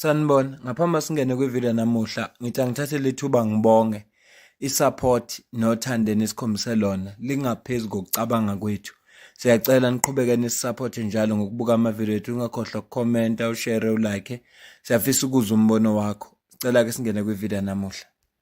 Sanibona, ngaphambi singene kwivideo namuhla, ngithi angithathe lethuba ngibonge isupport nothando enikhombise lona lingaphezulu kokucabanga kwethu. Siyacela niqhubeke nisisupport njalo ngokubuka amavideo ethu, ungakhohlwa ukukhomenta, ushare, ulike. Siyafisa ukuzwa umbono wakho. Sicela ke singene kwivideo namuhla.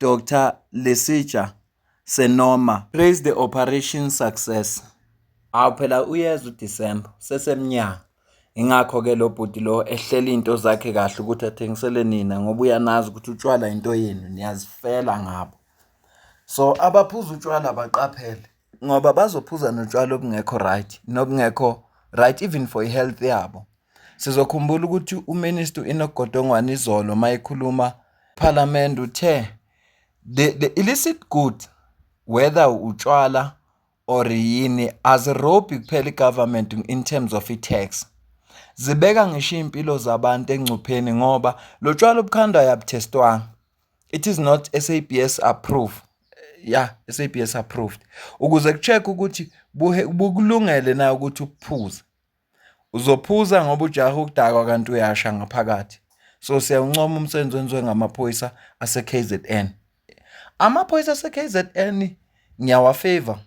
Doctor Lesitsha Senoma. Praise the operation success. Hawu phela uyeza uDecember sesemnyanga. Ingakho ke lo bhuti lo ehlela into zakhe kahle ukuthi athengisele nina ngoba uyanazi ukuthi utshwala into yenu niyazifela ngabo. So abaphuza utshwala baqaphele. ngoba bazophuza notshwala obungekho right nobungekho right even for i-health yabo sizokhumbula ukuthi uminister uenogodongwane izolo uma ekhuluma phalamende uthe the, the illicit good whether utshwala or yini azirobhi kuphela i-government in terms of i-tax zibeka ngisho iy'mpilo zabantu engcupheni ngoba lo tshwala obukhandwayo abuthestwanga it is not SABS approved yeah SABS approved ukuze kucheck ukuthi bukulungele na ukuthi uphuze uzophuza ngoba ujaha ukudakwa kanti uyasha ngaphakathi so siyawuncoma umsebenzi wenziwe ngamaphoyisa ase-KZN amaphoyisa ase-KZN ngiyawafavor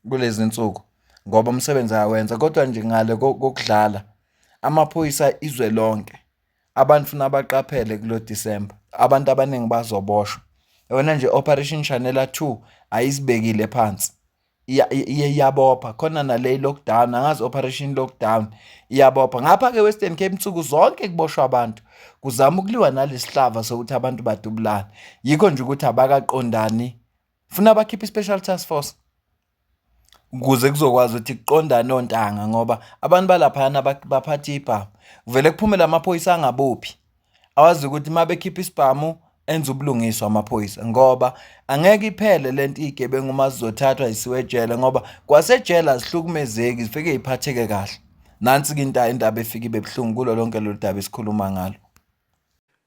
kulezi nsuku ngoba umsebenzi ayawenza kodwa nje ngale kokudlala amaphoyisa izwe lonke Abantu funa baqaphele kulo December. Abantu abaningi bazoboshwa. Yona nje Operation Chanela 2 ayisibekile phansi. Iye iyabopha khona nale lockdown angazi operation lockdown iyabopha ngapha ke Western Cape insuku zonke kuboshwa abantu kuzama ukuliwa nalesihlava sokuthi abantu badubulane yikho nje ukuthi abakaqondani funa bakhiphe special task force ukuze kuzokwazi ukuthi kuqondane ontanga ngoba abantu balaphayana baphatha iy'bhamu. Kuvele kuphume la maphoyisa angabophi, awazi ukuthi uma bekhipha isibhamu enze ubulungiswa amaphoyisa ngoba angeke iphele le nto iy'gebengu uma zizothathwa zisiwe ejele ngoba kwasejele azihlukumezeki zifike ziphatheke kahle. Nansi-ke indaba efike ibe buhlungu kulo lonke lolu daba esikhuluma ngalo.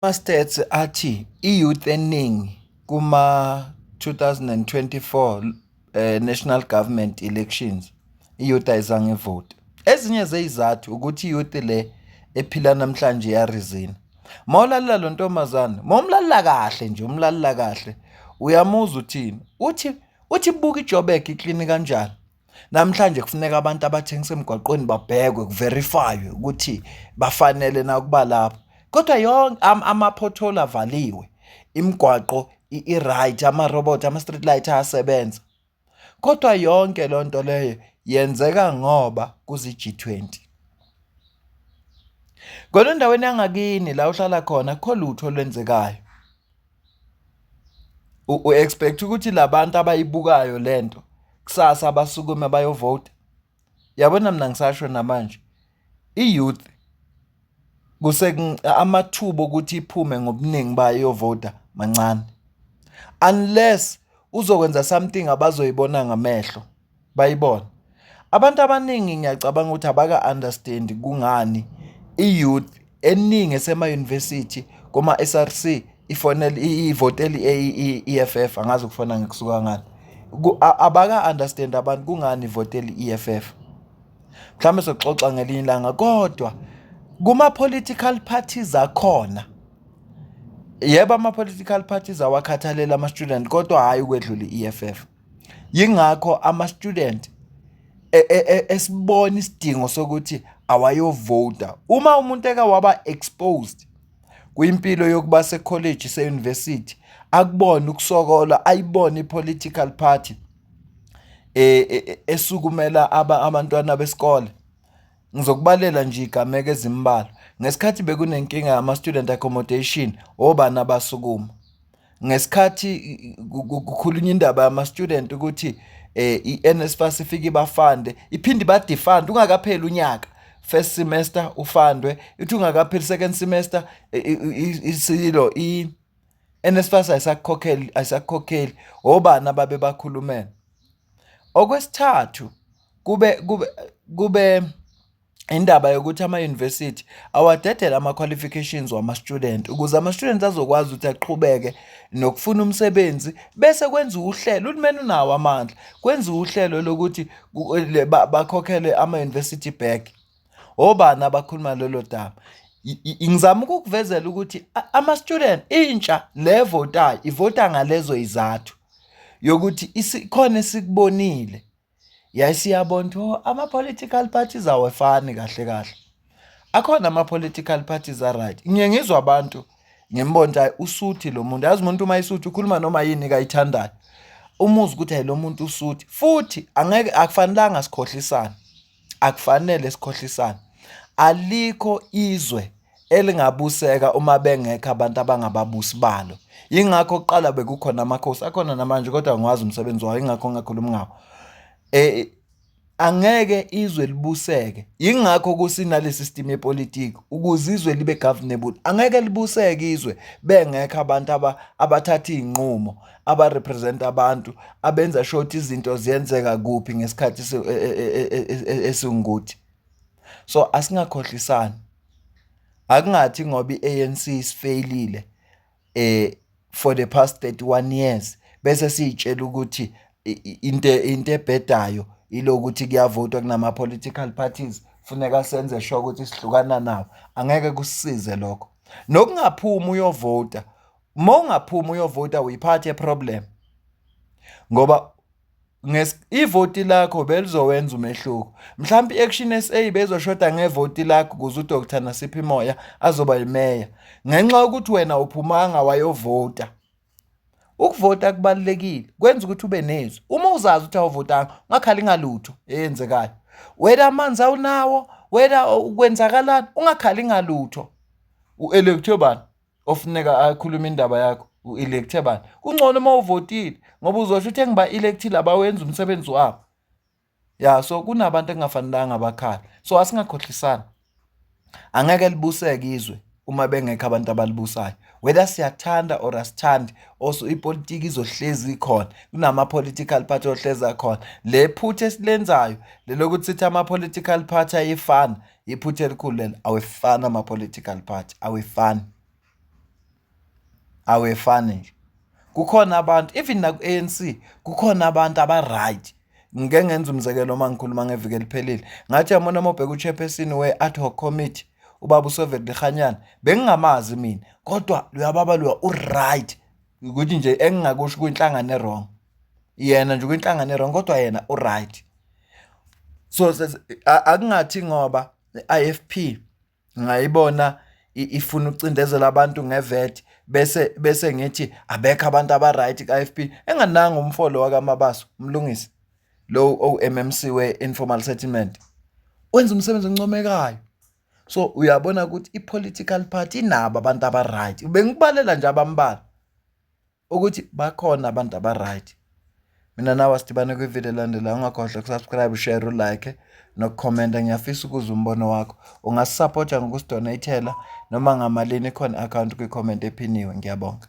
Ama-stats athi i-youth eningi kuma-2024 eh, national government elections i-youth ayizange ivote ezinye zeyizathu ukuthi i-youth le ephila namhlanje yarizina mawulalela lo ntombazane mawumlalela kahle nje umlalela kahle uyamuzwa uthini uthi uthi buka ijobek ikline kanjani Namhlanje kufuneka abantu abathengisa emgwaqweni babhekwe kuverifaywe ukuthi bafanele na ukuba lapho kodwa yonke ama-pothole avaliwe imigwaqo i-right ama-robot ama-street light ayasebenza kodwa yonke loo nto leyo yenzeka ngoba kuzi-G20 kodwa endaweni yangakini la uhlala khona akukho lutho olwenzekayo. U-expect ukuthi la bantu abayibukayo le nto kusasa basukume bayovota? Yabona mina ngisasho namanje i-youth amathuba okuthi iphume ngobuningi bayo iyovota mancane unless uzokwenza something abazoyibona ngamehlo. bayibona abantu abaningi ngiyacabanga ukuthi abaka-understand kungani i-youth eningi esema-university koma-SRC ifonela ivotela i-EFF angazi ukufona ngikusuka ngani abaka-understand abantu kungani ivotela i-EFF mhlawumbe soxoxa ngelinye ilanga kodwa kuma-political parties akhona yebo ama-political parties awakhathalele ama-student kodwa hhayi ukwedlula i-EFF Yingakho ama-student e, e, e, esibona isidingo sokuthi awayovota. Uma umuntu eke waba exposed kwimpilo yokuba sekholeji seyunivesithi akubona ukusokola ayibone i-political party e, e, e, esukumela abantwana besikole Ngizokubalela nje igameko ezimbalwa. Ngesikhathi bekunenkinga yama-student accommodation, obani abasukuma? Ngesikhathi kukhulunywa indaba yama-student ukuthi eh i-NSFAS ifike ibafande, iphinde ibadifande ungakapheli unyaka. First semester ufandwe, ithi ungakapheli second semester isilo i NSFAS ayisakukhokheli ayisakukhokheli. Obani ababe bakhulumela? Okwesithathu kube kube kube indaba yokuthi amayunivesithi awadedele ama-qualifications wama-student ukuze ama-student azokwazi ukuthi aqhubeke nokufuna umsebenzi bese kwenziwa uhlelo, uhulumeni unawo amandla, kwenziwe uhlelo lokuthi bakhokhelwe amayunivesithi back. obani abakhuluma lolo daba ngizama ukukuvezela ukuthi ama-student intsha le votayo ivota ngalezo izathu yokuthi isikhona esikubonile yayisiyabona ukuthi oh, ama-political parties awefani kahle kahle akhona ama-political parties aright ngiye ngizwa abantu ngimbono ukuthi usuthi lo muntu yazi umuntu uma isuthi ukhuluma noma yini kayithandayo umuzi ukuthi hayi lo muntu usuthi futhi angeke akufanelanga sikhohlisane akufanele sikhohlisane alikho izwe elingabuseka uma bengekho abantu abangababusi balo yingakho kuqala bekukhona amakhosi akhona namanje kodwa ngiwazi umsebenzi wawo yingakho ngingakhulumi ngawo eh angeke izwe libuseke yingakho kusinalesi system yepolitiki ukuze izwe libe governable angeke libuseke izwe bengekho abantu abathatha izinqumo. abarepresenta abantu abenza sure ukuthi izinto ziyenzeka kuphi ngesikhathi e, e, e, esingukuthi so asingakhohlisani akungathi ngoba i-ANC isifeyilile eh for the past 31 years bese siyitshela ukuthi into into ebhedayo ilokuthi kuyavotwa kunama political parties funeka senze sure ukuthi sihlukana nawo angeke kusize lokho nokungaphuma uyovota uma ungaphuma uyovota uyiphathe problem ngoba ivoti lakho belizowenza umehluko mhlawumbe i-action sa bezoshoda ngevoti lakho ukuze udr nasiphi moya azoba yimeya ngenxa yokuthi wena uphumanga wayovota ukuvota kubalulekile kwenza ukuthi ube nezwi uma uzazi ukuthi awuvotanga ungakhali ngalutho eyenzekayo wena amanzi awunawo wena ukwenzakalani ungakhali ngalutho u-electobani ofuneka akhulume indaba yakho u-electhe bani kungcono uma uvotile ngoba uzosho ukuthi engiba-electile abawenzi umsebenzi wabo ya so kunabantu engingafanelanga bakhala so asingakhohlisani angeke libuseke izwe uma bengekho abantu abalibusayo whether siyathanda or asithandi also ipolitiki izohlezi ikhona kunama-political party ohlezi akhona le phutha esilenzayo lelokuthi sithi ama-political party ayefana iphutha elikhulu lelo awefani ama-political party awefani awefani nje kukhona abantu even naku-anc kukhona abantu aba-right ngike ngenza umzekelo uma ngikhuluma ngeviki eliphelile ngathi yamona uma ubheka uchairperson we-ad hoc committee ubaba usoveli lihanyana bengingamazi mina kodwa luyababa luya u-right ukuthi nje engingakusho kwinhlangano erong yena nje kwinhlangano erong kodwa yena uright so akungathi ngoba i-IFP ngayibona ifuna ucindezela abantu ngevet bese bese ngithi abekho abantu abaright ka-IFP engananga umfolo wakamabaso umlungisi lo o-MMC we-informal settlement wenza umsebenzi oncomekayo so uyabona ukuthi i-political party inabo abantu aba-right bengikubalela nje abambalwa ukuthi bakhona abantu aba-right mina nawe sidibane kwividiyo elandelayo ungakhohlwa ukusubscribe ushare ulike nokukhomenta ngiyafisa ukuza umbono wakho ungasisapota ngokusidonayithela noma ngamalini ikhona i-akhawunti kwikhomenti ephiniwe ngiyabonga